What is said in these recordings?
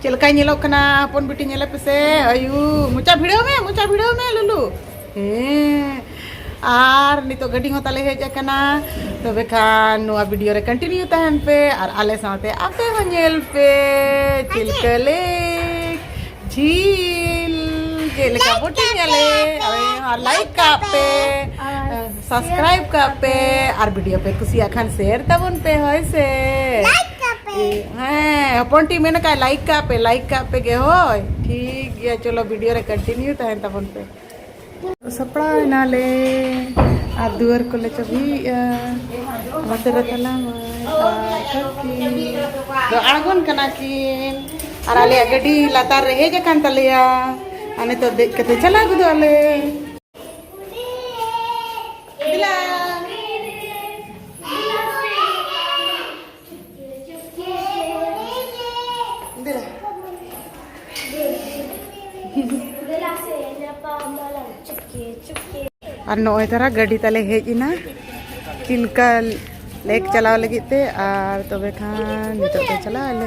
ᱪᱮᱫ ᱞᱮᱠᱟᱭ ᱧᱮᱞᱚᱜ ᱠᱟᱱᱟ ᱦᱚᱯᱚᱱ ᱵᱤᱴᱤ ᱧᱮᱞᱮ ᱯᱮᱥᱮ ᱟᱭᱩ ᱢᱚᱪᱟ ᱵᱷᱤᱲᱟᱹᱣ ᱢᱮ ᱢᱚᱪᱟ ᱵᱷᱤᱲᱟᱹᱣ ᱢᱮ ᱞᱩᱞᱩ ᱦᱮᱸ ᱟᱨ ᱱᱤᱛᱚᱜ ᱜᱟᱹᱰᱤ ᱦᱚᱸ ᱛᱟᱞᱮ ᱦᱮᱡ ᱟᱠᱟᱱᱟ ᱛᱚᱵᱮ ᱠᱷᱟᱱ ᱱᱚᱣᱟ ᱵᱷᱤᱰᱤᱭᱳ ᱨᱮ ᱠᱚᱱᱴᱤᱱᱤᱭᱩ ᱛᱟᱦᱮᱱ ᱯᱮ ᱟᱨ ᱟᱞᱮ ᱥᱟᱶᱛᱮ ᱟᱯᱮ ᱦᱚᱸ ᱧᱮᱞ ᱯᱮ ᱪᱤᱞᱠᱟᱹ ᱞᱮᱠ ᱡᱷᱤᱞ ᱪᱮᱫ ᱞᱮᱠᱟ ᱵᱳᱴᱤᱝ ᱟᱞᱮ ᱟᱨ ᱞᱟᱭᱤᱠ ᱠᱟᱜ ᱯᱮ ᱥᱟᱵᱥᱠᱨᱟᱭᱤᱵ ᱠᱟᱜ ᱯᱮ ᱟᱨ ᱵᱷᱤᱰᱤᱭᱳ ᱯᱮ ᱠᱩᱥᱤᱭᱟᱜ ᱠᱷᱟᱱ ᱥᱮᱭᱟᱨ ᱛᱟᱵᱚᱱ ᱯᱮ ᱦᱳᱭ ᱥᱮ ᱦᱮᱸ ᱦᱚᱯᱚᱱ ᱴᱤ ᱢᱮᱱ ᱠᱟᱜ ᱞᱟᱭᱤᱠ ᱠᱟᱜ ᱯᱮ ᱞᱟᱭᱤᱠ ᱠᱟᱜ ᱯᱮ ᱜᱮ ᱦᱳᱭ ᱴᱷᱤᱠ ᱜᱮᱭᱟ ᱪᱚᱞᱚ ᱵᱷᱤᱰᱤᱭᱳ ᱨᱮ ᱠᱚᱱᱴᱤᱱᱤᱭᱩ ᱛᱟᱦᱮᱱ ᱛᱟᱵᱚᱱ ᱯᱮ ᱥᱟᱯᱲᱟᱣ ᱮᱱᱟᱞᱮ ᱟᱨ ᱫᱩᱣᱟᱹᱨ ᱠᱚᱞᱮ ᱪᱟᱹᱵᱤᱭᱮᱜᱼᱟ ᱚᱱᱟᱛᱮ ᱨᱮ ᱛᱟᱞᱟ ᱫᱚ ᱟᱬᱜᱚᱱ ᱠᱟᱱᱟ ᱠᱤᱱ ᱟᱨ ᱟᱞᱮᱭᱟᱜ ᱜᱟᱹᱰᱤ ᱞᱟᱛᱟᱨ ᱨᱮ ᱦᱮᱡ ᱟᱠᱟᱱ ᱛᱟᱞᱮᱭᱟ ᱟᱨ ᱱᱤᱛᱚᱜ ᱫᱮᱡ ᱠᱟᱛᱮ ᱪᱟᱞᱟᱣ ᱜᱚᱫᱚᱜ ᱟᱞᱮ ᱟᱨ ᱱᱚᱜᱼᱚᱭ ᱛᱟᱨᱟ ᱜᱟᱹᱰᱤ ᱛᱟᱞᱮ ᱦᱮᱡ ᱮᱱᱟ ᱪᱤᱞᱠᱟ ᱞᱮᱠ ᱪᱟᱞᱟᱣ ᱞᱟᱹᱜᱤᱫ ᱛᱮ ᱟᱨ ᱛᱚᱵᱮ ᱠᱷᱟᱱ ᱱᱤᱛᱚᱜ ᱫᱚ ᱪᱟᱞᱟᱜ ᱟᱞᱮ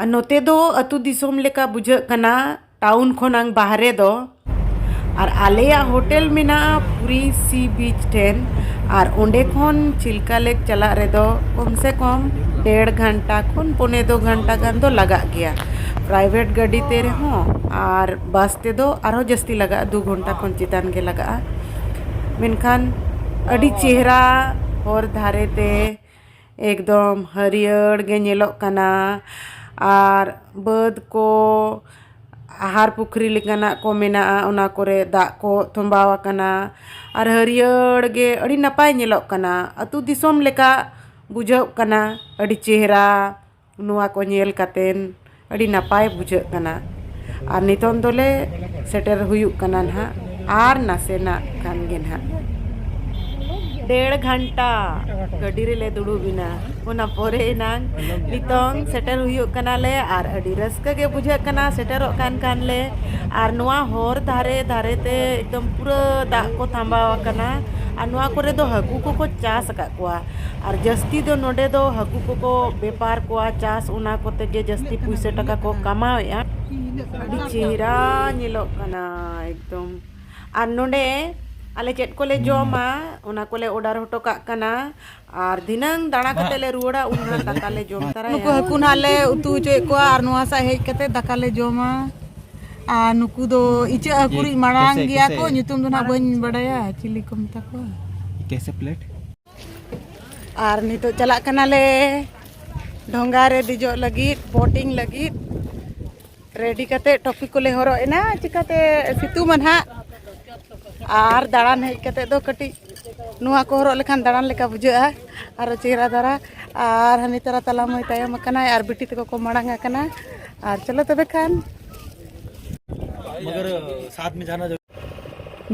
ᱟᱨ ᱱᱚᱛᱮ ᱫᱚ ᱟᱹᱛᱩ ᱫᱤᱥᱚᱢ ᱞᱮᱠᱟ ᱵᱩᱡᱷᱟᱹᱜ ᱠᱟᱱᱟ ᱴᱟᱣᱩᱱ ᱠᱷᱚᱱᱟᱝ ᱵᱟᱦᱨᱮ ᱫᱚ ᱟᱨ ᱟᱞᱮᱭᱟᱜ ᱦᱳᱴᱮᱞ ᱢᱮᱱᱟᱜᱼᱟ ᱯᱩᱨᱤ ᱥᱤ ᱵᱤᱪ ᱴᱷᱮᱱ ᱟᱨ ᱚᱸᱰᱮ ᱠᱷᱚᱱ ᱪᱤᱞᱠᱟ ᱞᱮᱠ ᱪᱟᱞᱟᱜ ᱨᱮᱫᱚ ᱠᱚᱢ ᱥᱮ ᱠᱚᱢ ᱰᱮᱲ ᱜᱷᱚᱱᱴᱟ ᱠᱷᱚᱱ ᱯᱚᱱᱮ ᱫᱩ ᱜᱷᱚᱱᱴᱟ ᱜᱟᱱ ᱫᱚ ᱞᱟᱜᱟᱜ ᱜᱮᱭᱟ ᱯᱨᱟᱭᱵᱷᱮᱴ ᱜᱟᱹᱰᱤ ᱛᱮ ᱨᱮᱦᱚᱸ ᱟᱨ ᱵᱟᱥ ᱛᱮᱫᱚ ᱟᱨᱦᱚᱸ ᱡᱟᱹᱥᱛᱤ ᱞᱟᱜᱟᱜᱼᱟ ᱫᱩ ᱜᱷᱚᱱᱴᱟ ᱠᱷᱚᱱ ᱪᱮᱛᱟᱱ ᱜᱮ ᱞᱟᱜᱟᱜᱼᱟ ᱢᱮᱱᱠᱷᱟᱱ ᱟᱹᱰᱤ ᱪᱮᱦᱨᱟ ᱦᱚᱨ ᱫᱷᱟᱨᱮ ᱛᱮ ᱮᱠᱫᱚᱢ ᱦᱟᱹᱨᱭᱟᱹᱲ ᱜᱮ ᱧᱮᱞᱚᱜ ᱠᱟᱱᱟ ᱟᱨ ᱵᱟᱹᱫᱽ ᱠᱚ ᱟᱦᱟᱨ ᱯᱩᱠᱷᱨᱤ ᱞᱮᱠᱟᱱᱟᱜ ᱠᱚ ᱢᱮᱱᱟᱜᱼᱟ ᱚᱱᱟ ᱠᱚᱨᱮ ᱫᱟᱜ ᱠᱚ ᱛᱚᱢᱵᱟᱣ ᱟᱠᱟᱱᱟ ᱟᱨ ᱦᱟᱹᱨᱭᱟᱹᱲ ᱜᱮ ᱟᱹᱰᱤ ᱱᱟᱯᱟᱭ ᱧᱮᱞᱚᱜ ᱠᱟᱱᱟ ᱟᱛᱳ ᱫᱤᱥᱚᱢ ᱞᱮᱠᱟ ᱵᱩᱡᱷᱟᱹᱜ ᱠᱟᱱᱟ ᱟᱹᱰᱤ ᱪᱮᱦᱨᱟ ᱱᱚᱣᱟ ᱠᱚ ᱧᱮᱞ ᱠᱟᱛᱮᱫ ᱟᱹᱰᱤ ᱱᱟᱯᱟᱭ ᱵᱩᱡᱷᱟᱹᱜ ᱠᱟᱱᱟ ᱟᱨ ᱱᱤᱛᱳᱝ ᱫᱚᱞᱮ ᱥᱮᱴᱮᱨ ᱦᱩᱭᱩᱜ ᱠᱟᱱᱟ ᱱᱟᱜ ᱟᱨ ᱱᱟᱥᱮᱱᱟᱜ ᱠᱷᱟᱱ ᱜᱮ ᱱᱟᱜ ᱰᱮᱲ ᱜᱷᱚᱱᱴᱟ ᱜᱟᱹᱰᱤ ᱨᱮᱞᱮ ᱫᱩᱲᱩᱵ ᱮᱱᱟ ᱚᱱᱟ ᱯᱚᱨᱮ ᱮᱱᱟᱝ ᱱᱤᱛᱳᱝ ᱥᱮᱴᱮᱨ ᱦᱩᱭᱩᱜ ᱠᱟᱱᱟᱞᱮ ᱟᱨ ᱟᱹᱰᱤ ᱨᱟᱹᱥᱠᱟᱹ ᱜᱮ ᱵᱩᱡᱷᱟᱹᱜ ᱠᱟᱱᱟ ᱥᱮᱴᱮᱨᱚᱜ ᱠᱟᱱ ᱠᱷᱟᱱ ᱞᱮ ᱟᱨ ᱱᱚᱣᱟ ᱦᱚᱨ ᱫᱷᱟᱨᱮ ᱫᱷᱟᱨᱮ ᱛᱮ ᱮᱠᱫᱚᱢ ᱯᱩᱨᱟᱹ ᱫᱟᱜ ᱠᱚ ᱛᱷᱟᱢᱵᱟᱣᱟᱠᱟᱱᱟ ᱟᱨ ᱱᱚᱣᱟ ᱠᱚᱨᱮ ᱫᱚ ᱦᱟᱹᱠᱩ ᱠᱚᱠᱚ ᱪᱟᱥ ᱟᱠᱟᱫ ᱠᱚᱣᱟ ᱟᱨ ᱡᱟᱹᱥᱛᱤ ᱫᱚ ᱱᱚᱸᱰᱮ ᱫᱚ ᱦᱟᱹᱠᱩ ᱠᱚᱠᱚ ᱵᱮᱯᱟᱨ ᱠᱚᱣᱟ ᱪᱟᱥ ᱚᱱᱟ ᱠᱚᱛᱮ ᱜᱮ ᱡᱟᱹᱥᱛᱤ ᱯᱩᱭᱥᱟᱹ ᱴᱟᱠᱟ ᱠᱚ ᱠᱟᱢᱟᱣᱮᱜᱼᱟ ᱟᱹᱰᱤ ᱪᱮᱦᱨᱟ ᱧᱮᱞᱚᱜ ᱠᱟᱱᱟ ᱮᱠᱫᱚᱢ ᱟᱨ ᱱᱚᱸᱰᱮ ᱟᱞᱮ ᱪᱮᱫ ᱠᱚᱞᱮ ᱡᱚᱢᱟ ᱚᱱᱟ ᱠᱚᱞᱮ ᱚᱰᱟᱨ ᱦᱚᱴᱚ ᱠᱟᱜ ᱠᱟᱱᱟ ᱟᱨ ᱫᱷᱤᱱᱟᱹᱝ ᱫᱟᱬᱟ ᱠᱟᱛᱮ ᱞᱮ ᱨᱩᱣᱟᱹᱲᱟ ᱩᱱ ᱦᱟᱸᱜ ᱫᱟᱠᱟ ᱞᱮ ᱡᱚᱢ ᱛᱟᱨᱟᱭᱟ ᱱᱩᱠᱩ ᱦᱟᱹᱠᱩ ᱱᱟᱦᱟᱜ ᱞᱮ ᱩᱛᱩ ᱦᱚᱪᱚᱭᱮᱫ ᱠᱚᱣᱟ ᱟᱨ ᱱᱚᱣᱟ ᱥᱟᱜ ᱦᱮᱡ ᱠᱟᱛᱮ ᱫᱟᱠᱟ ᱞᱮ ᱡᱚᱢᱟ ᱟᱨ ᱱᱩᱠᱩ ᱫᱚ ᱤᱪᱟᱹᱜ ᱦᱟᱹᱠᱩ ᱨᱤᱡ ᱢᱟᱲᱟᱝ ᱜᱮᱭᱟ ᱠᱚ ᱧᱩᱛᱩᱢ ᱫᱚ ᱱᱟᱦᱟᱜ ᱵᱟᱹᱧ ᱵᱟᱰᱟᱭᱟ ᱪᱤᱞᱤ ᱠᱚ ᱢᱮᱛᱟ ᱠᱚᱣᱟ ᱠᱮᱥᱮ ᱯᱞᱮᱴ ᱟᱨ ᱱᱤᱛᱚᱜ ᱪᱟᱞᱟᱜ ᱠᱟᱱᱟᱞᱮ ᱰᱷᱚᱸᱜᱟ ᱨᱮ ᱫᱮᱡᱚᱜ ᱞᱟᱹᱜᱤᱫ ᱵᱳᱴᱤᱝ ᱞᱟᱹᱜᱤᱫ ᱨᱮᱰᱤ ᱠᱟᱛᱮ ᱴᱚᱯᱤ ᱠᱚᱞᱮ ᱦᱚᱨᱚᱜ ᱮᱱᱟ ᱪᱤᱠᱟᱛᱮ ᱥᱤᱛᱩᱝ ᱢᱟ ᱱᱟᱦᱟᱜ ᱟᱨ ᱫᱟᱬᱟᱱ ᱦᱮᱡ ᱠᱟᱛᱮ ᱫᱚ ᱠᱟᱹᱴᱤᱡ ᱱᱚᱣᱟ ᱠᱚ ᱦᱚᱨᱚᱜ ᱞᱮᱠᱷᱟᱱ ᱫᱟᱬᱟᱱ ᱞᱮᱠᱟ ᱵᱩᱡᱷᱟᱹᱜᱼᱟ ᱟᱨᱚ ᱪᱮᱦᱨᱟ ᱫᱷᱟᱨᱟ ᱟᱨ ᱦᱟᱹᱱᱤ ᱛᱟᱨᱟ ᱛᱟᱞᱟ ᱢᱟᱹᱭ ᱛᱟᱭᱚᱢ ᱟᱠᱟᱱᱟᱭ ᱟᱨ ᱵᱤᱴᱤ ᱛᱟᱠᱚ ᱠᱚ ᱢᱟᱲᱟᱝ ᱟᱠᱟᱱᱟ ᱟᱨ ᱪᱚᱞᱚ ᱛᱚᱵᱮ ᱠᱷᱟᱱ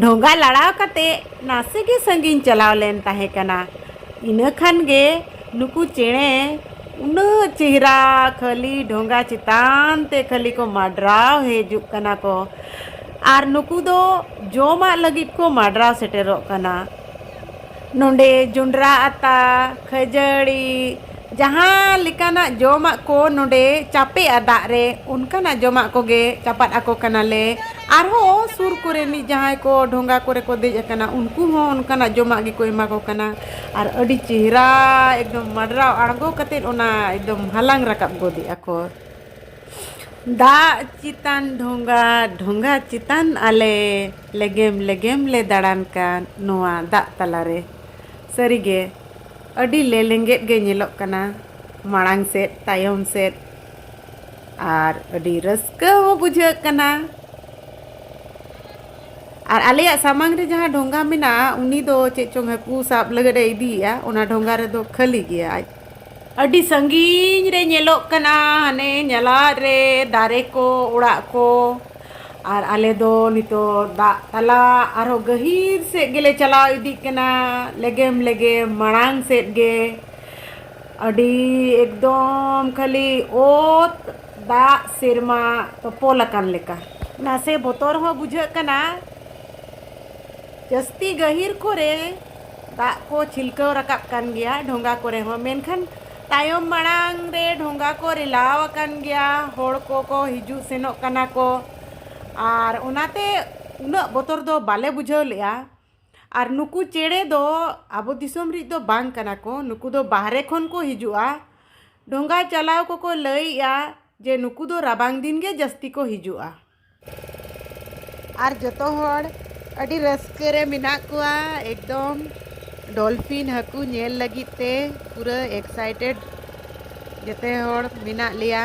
ᱰᱷᱚᱸᱜᱟ ᱞᱟᱲᱟᱣ ᱠᱟᱛᱮ ᱱᱟᱥᱮ ᱜᱮ ᱥᱟᱺᱜᱤᱧ ᱪᱟᱞᱟᱣ ᱞᱮᱱ ᱛᱟᱦᱮᱸ ᱠᱟᱱᱟ ᱤᱱᱟᱹ ᱠᱷᱟᱱ ᱜᱮ ᱱᱩᱠᱩ ᱪᱮᱬᱮ ᱩᱱᱟᱹᱜ ᱪᱮᱦᱨᱟ ᱠᱷᱟᱹᱞᱤ ᱰᱷᱚᱸᱜᱟ ᱪᱮᱛᱟᱱ ᱛᱮ ᱠᱷᱟᱹᱞᱤ ᱠᱚ ᱢᱟᱰᱨᱟᱣ ᱦᱤᱡᱩᱜ ᱠᱟᱱᱟ ᱠᱚ ᱟᱨ ᱱᱩᱠᱩ ᱫᱚ ᱡᱚᱢᱟᱜ ᱞᱟᱹᱜᱤᱫ ᱠᱚ ᱢᱟᱰᱨᱟᱣ ᱥᱮᱴᱮᱨᱚᱜ ᱠᱟᱱᱟ ᱱᱚᱰᱮ ᱡᱚᱸᱰᱨᱟ ᱟᱛᱟ ᱠᱷᱟᱹᱡᱟᱹᱲᱤ ᱡᱟᱦᱟᱸ ᱞᱮᱠᱟᱱᱟᱜ ᱡᱚᱢᱟᱜ ᱠᱚ ᱱᱚᱰᱮ ᱪᱟᱯᱮᱜᱼᱟ ᱫᱟᱜ ᱨᱮ ᱚᱱᱠᱟᱱᱟᱜ ᱡᱚᱢᱟᱜ ᱠᱚᱜᱮ ᱪᱟᱯᱟᱫ ᱟᱠᱚ ᱠᱟᱱᱟᱞᱮ ᱟᱨᱦᱚᱸ ᱥᱩᱨ ᱠᱚᱨᱮᱱᱤᱡ ᱡᱟᱦᱟᱸᱭ ᱠᱚ ᱰᱷᱚᱸᱜᱟ ᱠᱚᱨᱮ ᱠᱚ ᱫᱮᱡ ᱟᱠᱟᱱᱟ ᱩᱱᱠᱩ ᱦᱚᱸ ᱚᱱᱠᱟᱱᱟᱜ ᱡᱚᱢᱟᱜ ᱜᱮᱠᱚ ᱮᱢᱟ ᱠᱚ ᱠᱟᱱᱟ ᱟᱨ ᱟᱹᱰᱤ ᱪᱮᱦᱨᱟ ᱮᱠᱫᱚᱢ ᱢᱟᱰᱨᱟᱣ ᱟᱬᱜᱚ ᱠᱟᱛᱮ ᱚᱱᱟ ᱮᱠᱫᱚᱢ ᱦᱟᱞᱟᱝ ᱨᱟᱠᱟᱵ ᱜᱚᱫᱮᱜᱼᱟ ᱠᱚ ᱫᱟᱜ ᱪᱮᱛᱟᱱ ᱰᱷᱚᱸᱜᱟ ᱰᱷᱚᱸᱜᱟ ᱪᱮᱛᱟᱱ ᱟᱞᱮ ᱞᱮᱜᱮᱢ ᱞᱮᱜᱮᱢ ᱞᱮ ᱫᱟᱬᱟᱱ ᱠᱟᱱ ᱱᱚᱣᱟ ᱫᱟᱜ ᱛᱟᱞᱟ ᱨᱮ᱾ ᱥᱟᱹᱨᱤ ᱜᱮ ᱟᱹᱰᱤ ᱞᱮᱞᱮᱸᱜᱮᱫ ᱜᱮ ᱧᱮᱞᱚᱜ ᱠᱟᱱᱟ ᱢᱟᱲᱟᱝ ᱥᱮᱫ ᱛᱟᱭᱚᱢ ᱥᱮᱫ ᱟᱨ ᱟᱹᱰᱤ ᱨᱟᱹᱥᱠᱟᱹ ᱦᱚᱸ ᱵᱩᱡᱷᱟᱹᱜ ᱠᱟᱱᱟ᱾ ᱟᱨ ᱟᱞᱮᱭᱟᱜ ᱥᱟᱢᱟᱝ ᱨᱮ ᱡᱟᱦᱟᱸ ᱰᱷᱚᱸᱜᱟ ᱢᱮᱱᱟᱜᱼᱟ ᱩᱱᱤ ᱫᱚ ᱪᱮᱫ ᱪᱚᱝ ᱦᱟᱹᱠᱩ ᱥᱟᱵ ᱞᱟᱹᱜᱤᱫ ᱮ ᱤᱫᱤᱭᱮᱜᱼᱟ ᱚᱱᱟ ᱰᱷᱚᱸᱜᱟ ᱨᱮᱫᱚ ᱠᱷᱟᱹᱞᱤ ᱜᱮᱭᱟ ᱟᱡ ᱟᱹᱰᱤ ᱥᱟᱺᱜᱤᱧ ᱨᱮ ᱧᱮᱞᱚᱜ ᱠᱟᱱᱟ ᱦᱟᱱᱮ ᱧᱟᱞᱟᱫ ᱨᱮ ᱫᱟᱨᱮ ᱠᱚ ᱚᱲᱟᱜ ᱠᱚ ᱟᱨ ᱟᱞᱮ ᱫᱚ ᱱᱤᱛᱳᱜ ᱫᱟᱜ ᱛᱟᱞᱟ ᱟᱨᱦᱚᱸ ᱜᱟᱹᱦᱤᱨ ᱥᱮᱫ ᱜᱮᱞᱮ ᱪᱟᱞᱟᱣ ᱤᱫᱤᱜ ᱠᱟᱱᱟ ᱞᱮᱜᱮᱢ ᱞᱮᱜᱮᱢ ᱢᱟᱲᱟᱝ ᱥᱮᱫ ᱜᱮ ᱟᱹᱰᱤ ᱮᱠᱫᱚᱢ ᱠᱷᱟᱹᱞᱤ ᱚᱛ ᱫᱟᱜ ᱥᱮᱨᱢᱟ ᱛᱚᱯᱚᱞ ᱟᱠᱟᱱ ᱞᱮᱠᱟ ᱱᱟᱥᱮ ᱵᱚᱛᱚᱨ ᱦᱚᱸ ᱵᱩᱡᱷᱟᱹᱜ ᱠᱟᱱᱟ ᱡᱟᱹᱥᱛᱤ ᱜᱟᱹᱦᱤᱨ ᱠᱚᱨᱮ ᱫᱟᱜ ᱠᱚ ᱪᱷᱤᱞᱠᱟᱹᱣ ᱨᱟᱠᱟᱵ ᱠᱟᱱ ᱜᱮᱭᱟ ᱰᱷᱚᱸᱜᱟ ᱠᱚᱨᱮ ᱦᱚᱸ ᱢᱮᱱᱠᱷᱟᱱ ᱛᱟᱭᱚᱢ ᱢᱟᱲᱟᱝ ᱨᱮ ᱰᱷᱚᱸᱜᱟ ᱠᱚ ᱨᱮᱞᱟᱣ ᱟᱠᱟᱱ ᱜᱮᱭᱟ ᱦᱚᱲ ᱠᱚᱠᱚ ᱦᱤᱡᱩᱜ ᱥᱮᱱᱚᱜ ᱠᱟᱱᱟ ᱠᱚ ᱟᱨ ᱚᱱᱟᱛᱮ ᱩᱱᱟᱹᱜ ᱵᱚᱛᱚᱨ ᱫᱚ ᱵᱟᱞᱮ ᱵᱩᱡᱷᱟᱹᱣ ᱞᱮᱜᱼᱟ ᱟᱨ ᱱᱩᱠᱩ ᱪᱮᱬᱮ ᱫᱚ ᱟᱵᱚ ᱫᱤᱥᱚᱢ ᱨᱮᱱ ᱫᱚ ᱵᱟᱝ ᱠᱟᱱᱟ ᱠᱚ ᱱᱩᱠᱩ ᱫᱚ ᱵᱟᱦᱨᱮ ᱠᱷᱚᱱ ᱠᱚ ᱦᱤᱡᱩᱜᱼᱟ ᱰᱷᱚᱸᱜᱟ ᱪᱟᱞᱟᱣ ᱠᱚᱠᱚ ᱞᱟᱹᱭᱮᱜᱼᱟ ᱡᱮ ᱱᱩᱠᱩ ᱫᱚ ᱨᱟᱵᱟᱝ ᱫᱤᱱ ᱜᱮ ᱡᱟᱹᱥᱛᱤ ᱠᱚ ᱦᱤᱡᱩᱜᱼᱟ ᱟᱨ ᱡᱚᱛᱚ ᱦᱚᱲ ᱟᱹᱰᱤ ᱨᱟᱹᱥᱠᱟᱹ ᱨᱮ ᱢᱮᱱᱟᱜ ᱠᱚᱣᱟ ᱮᱠᱫᱚᱢ ᱰᱚᱞᱯᱷᱤᱱ ᱦᱟᱹᱠᱩ ᱧᱮᱞ ᱞᱟᱹᱜᱤᱫ ᱛᱮ ᱯᱩᱨᱟᱹ ᱮᱠᱥᱟᱭᱴᱮᱰ ᱡᱚᱛᱚ ᱦᱚᱲ ᱢᱮᱱᱟᱜ ᱞᱮᱭᱟ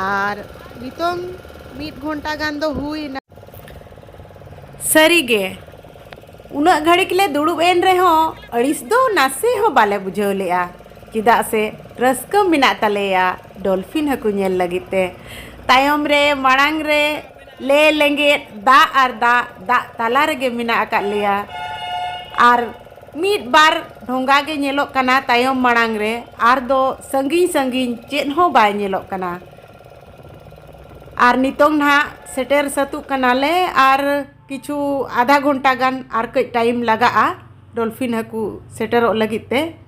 ᱟᱨ ᱱᱤᱛᱚᱝ ᱢᱤᱫ ᱜᱷᱚᱱᱴᱟ ᱜᱟᱱ ᱫᱚ ᱦᱩᱭᱱᱟ ᱥᱟᱹᱨᱤᱜᱮ ᱩᱱᱟᱹᱜ ᱜᱷᱟᱹᱲᱤᱠ ᱞᱮ ᱫᱩᱲᱩᱵ ᱮᱱ ᱨᱮᱦᱚᱸ ᱟᱹᱲᱤᱥ ᱫᱚ ᱱᱟᱥᱮ ᱦᱚᱸ ᱵᱟᱞᱮ ᱵᱩᱡᱷᱟᱹᱣ ᱞᱮᱜᱼᱟ ᱪᱮᱫᱟᱜ ᱥᱮ ᱨᱟᱹᱥᱠᱟᱹ ᱢᱮᱱᱟᱜ ᱛᱟᱞᱮᱭᱟ ᱰᱚᱞᱯᱷᱤᱱ ᱦᱟᱹᱠᱩ ᱧᱮᱞ ᱞᱟᱹᱜᱤᱫ ᱛᱮ ᱛᱟᱭᱚᱢ ᱨᱮ ᱢᱟᱲᱟᱝ ᱨᱮ ᱞᱮ ᱞᱮᱸᱜᱮᱫ ᱫᱟᱜ ᱟᱨ ᱫᱟᱜ ᱫᱟᱜ ᱛᱟᱞᱟ ᱨᱮᱜᱮ ᱢᱮᱱᱟᱜ ᱟᱠᱟᱫ ᱞᱮᱭᱟ ᱟᱨ ᱢᱤᱫ ᱵᱟᱨ ᱰᱷᱚᱸᱜᱟ ᱜᱮ ᱧᱮᱞᱚᱜ ᱠᱟᱱᱟ ᱛᱟᱭᱚᱢ ᱢᱟᱲᱟᱝ ᱨᱮ ᱟᱨ ᱫᱚ ᱥᱟᱺᱜᱤᱧ ᱥᱟᱺᱜᱤᱧ ᱪᱮᱫ ᱦᱚᱸ ᱵᱟᱭ ᱧᱮᱞᱚᱜ ᱠᱟᱱᱟ ᱟᱨ ᱱᱤᱛᱚᱝ ᱱᱟᱦᱟᱜ ᱥᱮᱴᱮᱨ ᱥᱟᱹᱛᱚᱜ ᱠᱟᱱᱟᱞᱮ ᱟᱨ ᱠᱤᱪᱷᱩ ᱟᱫᱷᱟ ᱜᱷᱚᱱᱴᱟ ᱜᱟᱱ ᱟᱨ ᱠᱟᱹᱡ ᱴᱟᱭᱤᱢ ᱞᱟᱜᱟᱜᱼᱟ ᱰᱚᱞᱯᱷᱤᱱ ᱦᱟᱹᱠᱩ ᱥᱮᱴᱮᱨᱚᱜ ᱞᱟᱹᱜᱤᱫ ᱛᱮ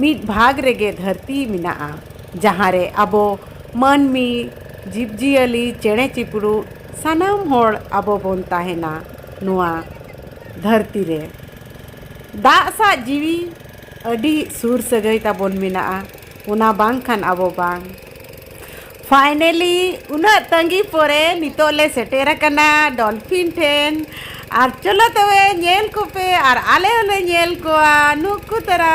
ᱢᱤᱫ ᱵᱷᱟᱜᱽ ᱨᱮᱜᱮ ᱫᱷᱟᱹᱨᱛᱤ ᱢᱮᱱᱟᱜᱼᱟ ᱡᱟᱦᱟᱸ ᱨᱮ ᱟᱵᱚ ᱢᱟᱹᱱᱢᱤ ᱡᱤᱵᱽ ᱡᱤᱭᱟᱹᱞᱤ ᱪᱮᱬᱮ ᱪᱤᱯᱨᱩᱫ ᱥᱟᱱᱟᱢ ᱦᱚᱲ ᱟᱵᱚ ᱵᱚᱱ ᱛᱟᱦᱮᱱᱟ ᱱᱚᱣᱟ ᱫᱷᱟᱹᱨᱛᱤ ᱨᱮ ᱫᱟᱜ ᱥᱟᱶ ᱡᱤᱣᱤ ᱟᱹᱰᱤ ᱥᱩᱨ ᱥᱟᱹᱜᱟᱹᱭ ᱛᱟᱵᱚᱱ ᱢᱮᱱᱟᱜᱼᱟ ᱚᱱᱟ ᱵᱟᱝᱠᱷᱟᱱ ᱟᱵᱚ ᱵᱟᱝ ᱯᱷᱟᱭᱱᱮᱞᱤ ᱩᱱᱟᱹᱜ ᱛᱟᱺᱜᱤ ᱯᱚᱨᱮ ᱱᱤᱛᱚᱜ ᱞᱮ ᱥᱮᱴᱮᱨ ᱟᱠᱟᱱᱟ ᱰᱚᱞᱯᱷᱤᱱ ᱴᱷᱮᱱ ᱟᱨ ᱪᱚᱞᱚ ᱛᱚᱵᱮ ᱧᱮᱞ ᱠᱚᱯᱮ ᱟᱨ ᱟᱞᱮ ᱦᱚᱸᱞᱮ ᱧᱮᱞ ᱠᱚᱣᱟ ᱱᱩᱠᱩ ᱛᱟᱨᱟ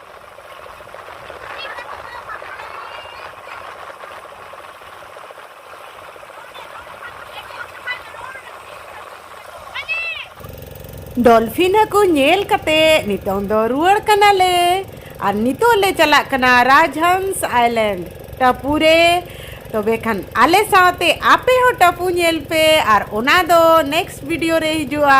ᱰᱚᱞᱯᱷᱤᱱ ᱦᱟᱹᱠᱩ ᱧᱮᱞ ᱠᱟᱛᱮ ᱱᱤᱛᱚᱝ ᱫᱚ ᱨᱩᱣᱟᱹᱲ ᱠᱟᱱᱟᱞᱮ ᱟᱨ ᱱᱤᱛᱚᱜ ᱞᱮ ᱪᱟᱞᱟᱜ ᱠᱟᱱᱟ ᱨᱟᱡᱽᱦᱚᱸᱥ ᱟᱭᱞᱮᱱᱰ ᱴᱟᱯᱩ ᱨᱮ ᱛᱚᱵᱮ ᱠᱷᱟᱱ ᱟᱞᱮ ᱥᱟᱶᱛᱮ ᱟᱯᱮ ᱦᱚᱸ ᱴᱟᱯᱩ ᱧᱮᱞ ᱯᱮ ᱟᱨ ᱚᱱᱟ ᱫᱚ ᱱᱮᱠᱥᱴ ᱵᱷᱤᱰᱤᱭᱳ ᱨᱮ ᱦᱤᱡᱩᱜᱼᱟ